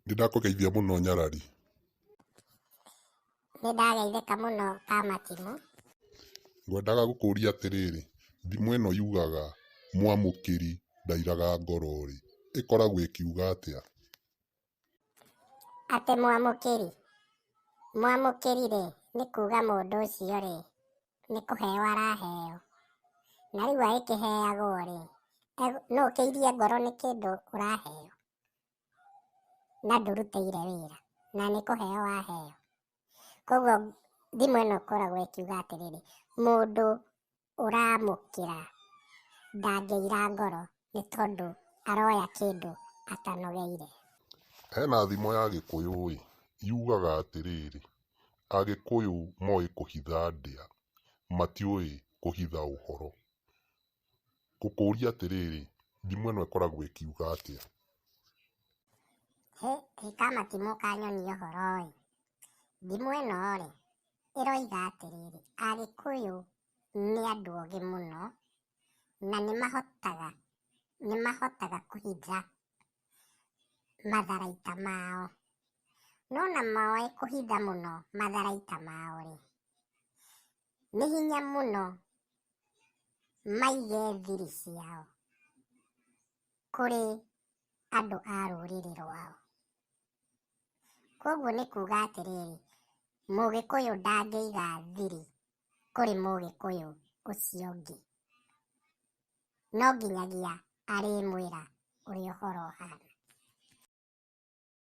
Nĩ ndakũgeithia mũno nyarari. Nĩ ndageithĩka mũno Kamatimũ. Ngwendaga gũkũria atĩrĩrĩ, thimo ĩno yugaga mwamũkĩri ndairaga ngoro rĩ, ĩkoragwo ĩkiuga atĩa? Atĩ mwamũkĩri, mwamũkĩri rĩ, nĩ kuuga mũndũ ũcio rĩ, nĩ kũheo araheo. Na rĩu agĩkĩheagwo-rĩ, no ũkĩirie ngoro nĩ kĩndũ ũraheo na ndũrutĩire wĩra na nĩ kũheo waheo. Koguo thimo ĩno ĩkoragwo ĩkiuga atĩrĩrĩ, mũndũ ũramũkĩra ndangĩira ngoro nĩ tondũ aroya kĩndũ atanogeire. Hena thimo ya gĩkũyũ-ĩ, yugaga atĩrĩrĩ, Agĩkũyũ moĩ kũhitha ndĩa, matiũĩ kũhitha ũhoro. Ngũkũria atĩrĩrĩ, thimo ĩno ĩkoragwo ĩkiuga atĩa? Hĩ, hĩ kamatimũ ka nyoni ũhoro-ĩ, thimo ĩno-rĩ, ĩroiga atĩrĩrĩ, Agĩkũyũ nĩ andũ ogĩ mũno na nĩ mahotaga, nĩ mahotaga kũhitha matharaita mao. No na moĩ kũhitha mũno matharaita mao rĩ, nĩ hinya mũno maige thiri ciao kũrĩ andũ a rũrĩrĩ rwao. Koguo nĩ kuga atĩrĩrĩ, mũgĩkũyũ ndangĩiga thiri kũrĩ mũgĩkũyũ ũcio ũngĩ. No nginyagia arĩmwĩra ũrĩa ũhoro ũhana.